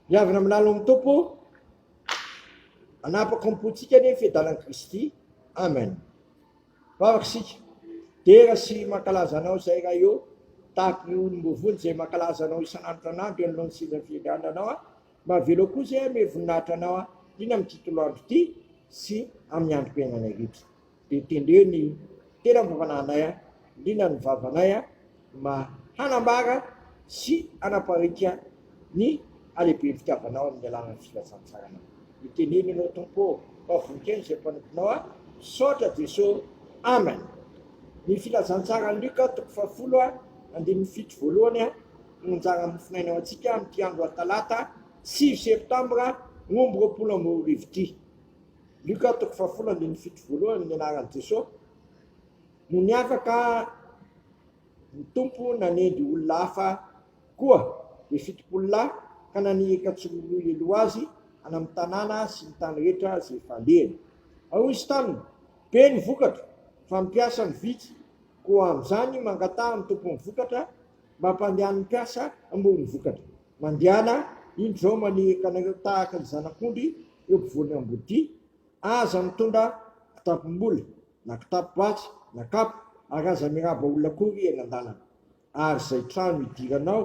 Miavona amin'ny lalon'ny Tompo, anapaka ny pontsika anie ny fiadalan'i Kristy. Amen. Vavaka isika. Dera sy mankalaza anao izay raha eo, tahaka ny olom-bovony izay mankalaza anao isan'andro tranandro eo anoloan'ny sezan'ny firenena anao aho. Mahavelao koa izay hanome voninahitra anao aho, indrindra amin'ity toloandro ity sy amin'ny androm-piainanay rehetra. Dia tendreo ny tena fanaovana anay a! Liana ny vavanay a! Mba hanambara sy hanapariaka ny halehiben'ny fitiavanao amin'ny alalan'ny filazantsarana ny teniny ianao Tompo ô! Mba vononkeno izay mpanomponao a! Misaotra Jeso! Amen! Ny filazantsaran'i Lioka toko fahafolo a! Andininy fito voalohany a! No anjara mofonaina ho antsika amin'ity andro Talata sivy septambra roa amby roapolo amby roa arivo ity. Luka toko fahafolo andininy fito voalohany ny anaran'i Jesosy no niavaka ny Tompo nanendry olona hafa koa dia fitopolo lahy ka naniraka tsy roa roa heloha azy any amin'ny tanàna sy ny tany rehetra izay efa alehany ary hoy izy taminy be ny vokatra fa ny mpiasa no vitsy koa amin'izany mangataha ny tompon'ny vokatra mba hampandehan'ny mpiasa hamory ny vokatra Mandehana indreo manihika anareo tahaka ny zanak'ondry eo ampovoan'ny ambodia, aza mitondra kitapom-bola na kitapo-batsy na kapa ary aza miraba olona akory eny an-dalana. Ary izay trano idiranao,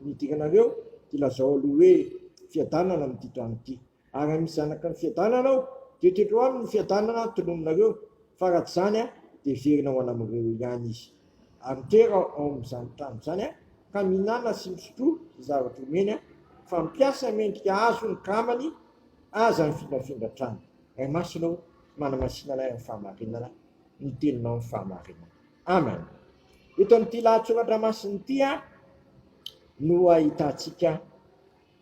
nidiranareo, dia lazao aloha hoe, Fiadanana amin'ity trano ity. Ary raha misy zanaka ny fiadanana ao, dia tendreo aminy ny fiadanana tonononareo, fa raha tsy izany, dia heverina ho an'amireo ihany izy. Ary mitera ao amin'izany trano izany, ka mihinana sy misotro izay zavatra omeny, fa mpiasa mendrika azo ny kramany, aza mifindrafindra trano. Ray Masina ô, manamasina anay amin'ny fahamarinana ny Teninao amin'ny fahamarinana. Amen. Eto amin'ity lahatsoratra masina ity no ahitantsika.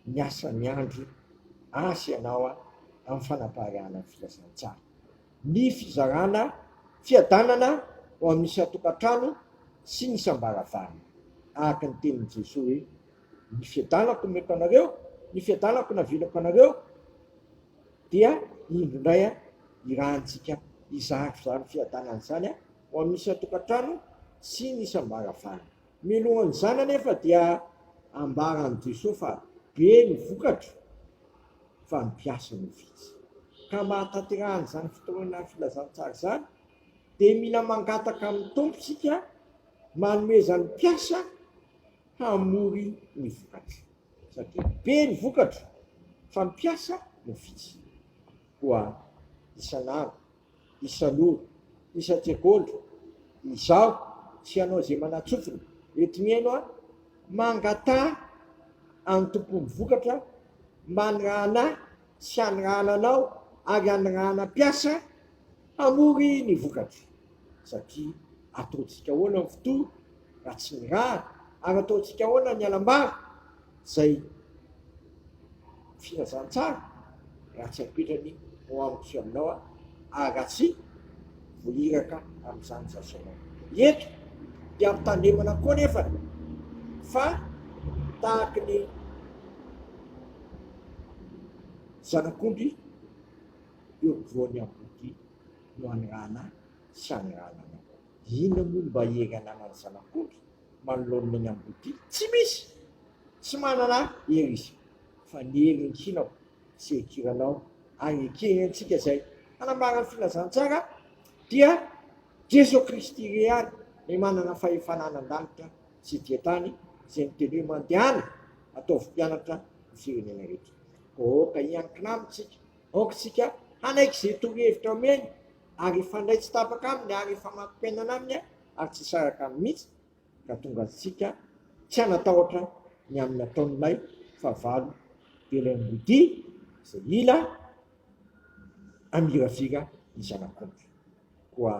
Miasa miandry asa ianao amin'ny fanapariahana ny filazantsara. Ny fizarana fiadanana ho amin'ny isan-tokantrano sy ny isam-baravarana. Araka ny tenin'i Jesoa hoe, Ny fiadanako nomeko anareo, ny fiadanako navelako anareo, dia indro indray irahantsika hizara izany fiadanana izany ho amin'ny isan-tokantrano sy ny isam-baravarana. Mialohan'izany anefa dia ambaran'i Jesoa fa be ny vokatra fa ny mpiasa no vitsy. Ka mba hahatanterahana izany fotoana filazantsara izany dia mila mangataka amin'ny Tompo isika manomezany mpiasa hamory ny vokatra satria be ny vokatra fa ny mpiasa no vitsy. Koa isan'andro. Isan'ora, isan-tsekoly, izaho sy ianao izay manatsofina eto mihaino ahy, mangataha an'ny Tompon'ny vokatra mba hanirahana ahy sy hanirahana anao ary hanirahana mpiasa hamory ny vokatra satria ataontsika ahoana ny fotoana raha tsy nirahana ary ataontsika ahoana ny hanambara Izay filazantsara raha tsy ampitrany ao amiko sy aminao aho ary raha tsy ho iraka amin'izany izaho sy ianao. Eto dia ampitandremana koa anefa fa tahaka ny zanak'ondry eo ampovoan'ny ampondry no anirahana sy anirahana anao. Inona moa no mba hery ananan'ny zanak'ondry? manoloana ny amboadia? Tsy misy! Tsy manana hery izy, fa ny hery enkinao sy ekiranao ary ekeny antsika izay hanambara ny filazantsara dia Jeso Kristy irery ihany, Ilay manana fahefana anan-danitra sy ety an-tany, izay niteny hoe, Mandehana, ataovy mpianatra ny firenena rehetra. Koa aoka hiankina amintsika, aoka isika hanaiky izay torohevitra omeny ary hifandray tsy tapaka aminy ary hifamatopenana aminy ary tsy hisaraka aminy mihitsy ka tonga antsika tsy hanatahotra ny amin'ny ataon'ilay fahavalo dia ilay modia izay hila hamiravira ny zanak'ondry koa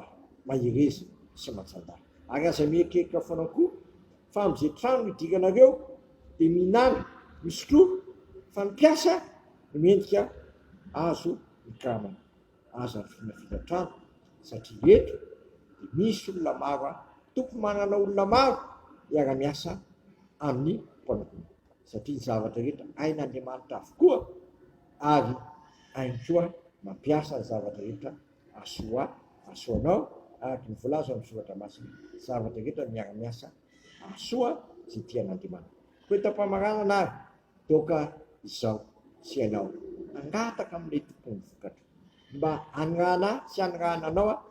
mahereza sy manjanda ary aza mieritreritra foana koa fa amin'izay trano hidiranareo dia mihinana misotroa fa ny mpiasa no mendrika azo ny karamany Aza vinavina trano satria eto dia misy olona maro any, tokony manana olona maro hiara miasa amin'ny mpanomponao satria ny zavatra rehetra hain'Andriamanitra avokoa ary hainy koa mampiasa ny zavatra rehetra asoa asoanao araka ny voalaza ao amin'ny soratra masina zavatra rehetra miara miasa asoa izay tian'Andriamanitra. Koa eto am-pamaranana ary Toaka izao sy ianao hangataka amin'ilay tompon'ny vokatra mba hanirahana ahy sy hanirahana anao aho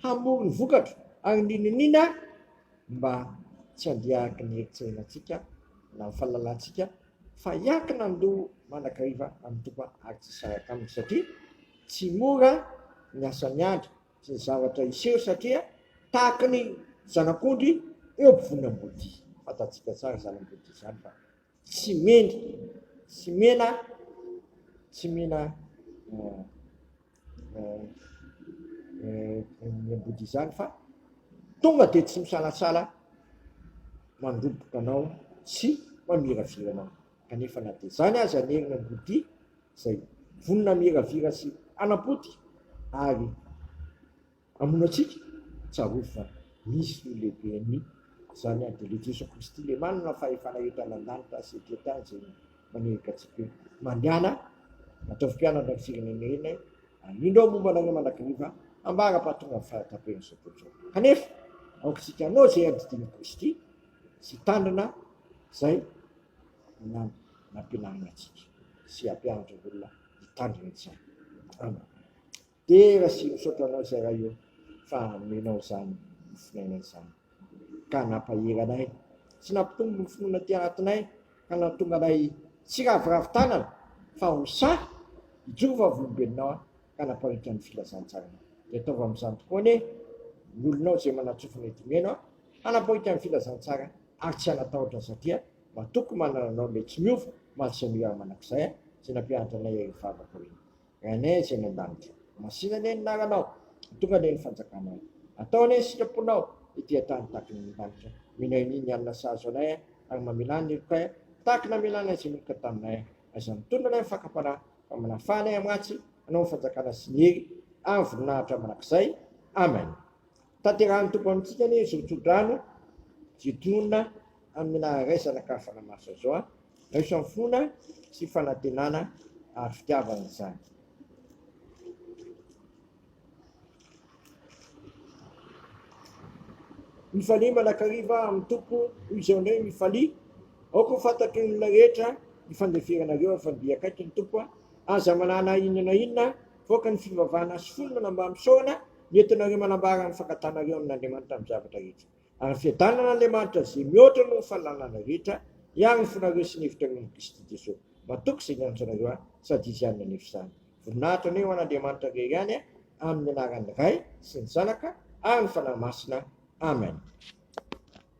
hamory ny vokatra ary ny niniana mba tsy handeha araka ny eritserenantsika na ny fahalalantsika fa hiankina ny loha manakariva amin'ny Tompo ary tsy hisaraka aminy satria tsy mora ny asan'ny andry sy ny zavatra hiseho satria tahaka ny zanak'ondry eo ampovoan'ny ambodia, fantatsika tsara izany ambodia izany fa. Tsy mendrika, tsy mena, tsy mena ny ambody izany fa tonga dia tsy misalasala mandroboka anao sy mamiravira anao. Kanefa na dia izany aza ny herin' ambody izay vonona miravira sy hanam-potika ary. Hamono antsika? Tsarovy fa misy ny Lehiben'ny zany any dia le Jeso Kristy le manana fahefana etrany an-danitra sy ety an-tany izay manehika antsika hoe, Mandehana, ataovy mpianatra ny firenenay, ary indro aho momba anareo mandrakariva hambara fa tonga ny fahataperan'izao tontolo izao. Kanefa aoka isika hanao izay andidian'i Kristy sy hitandrina izay nampianarina antsika sy hampianatra olona hitandrina izany. Amen. Dera sy misaotra anao Zay Ray ô fa nomenao izany mofonaina izany ka nampahery anay sy nampitombo ny finoana aty anatinay ka nahatonga anay tsy hiraviravy tanana fa ho sahy hijoro vavolombelonao aho ka namparitra ny filazantsaranao dia ataovy amin'izany tokoa anie ny olonao izay manatsofina eto omena aho hanaporitra ny filazantsara ary tsy hanatahotra satria matoky manana anao ilay tsy miova Malsy anio ary manakizay aho izay nampianatra anay ireo vavaka hoe. Amen Isika any an-danitra. Masina anie ny naranao. Tonga anie ny fanjakanao. Atao anie ny sitraponao ety an-tany tahaka ny an-danitra. Mino ahy ny alina sahazo anay ary mamela ny helokay tahaka namela anay izay niloka taminay. Aiza ny tolona anay ny fakam-panahy fa manafaha anay amin-ratsy. Anao ny fanjakana sy ny hery ary voninahitra mandrakizay. Amen. Tanterahin'ny Tompo amintsika anie izao tsodrano Jedona amina raisana ka fanamaso azy zao. Raiso amin'ny finoana sy fanantenana ary fitiavana izany. Mifalia manakariva amin'ny Tompo hoy izao ny hoe mifalia. Aoka ho fantatry ny olona rehetra ny fandeferanareo ary fa mby akaiky ny Tompo. Aza manana inona na inona fa aoka ny fivavahana sy fonona mba misaorana. Nentinareo manambara ny fankatanareo amin' Andriamanitra amin' ny zavatra rehetra, ary ny fiadanan' Andriamanitra izay mihoatra noho ny fahalalana rehetra, hiaro ny fonareo sy ny hevitrareo amin' i Kristy Jesoa. Matoky izay niantso anareo Ahy, sady Izy ihany nanefa izany. Voninahitra anie ho an' Andriamanitra irery ihany, amin' ny anaran' ny Ray sy ny Zanaka ary ny Fanahy Masina. Amen.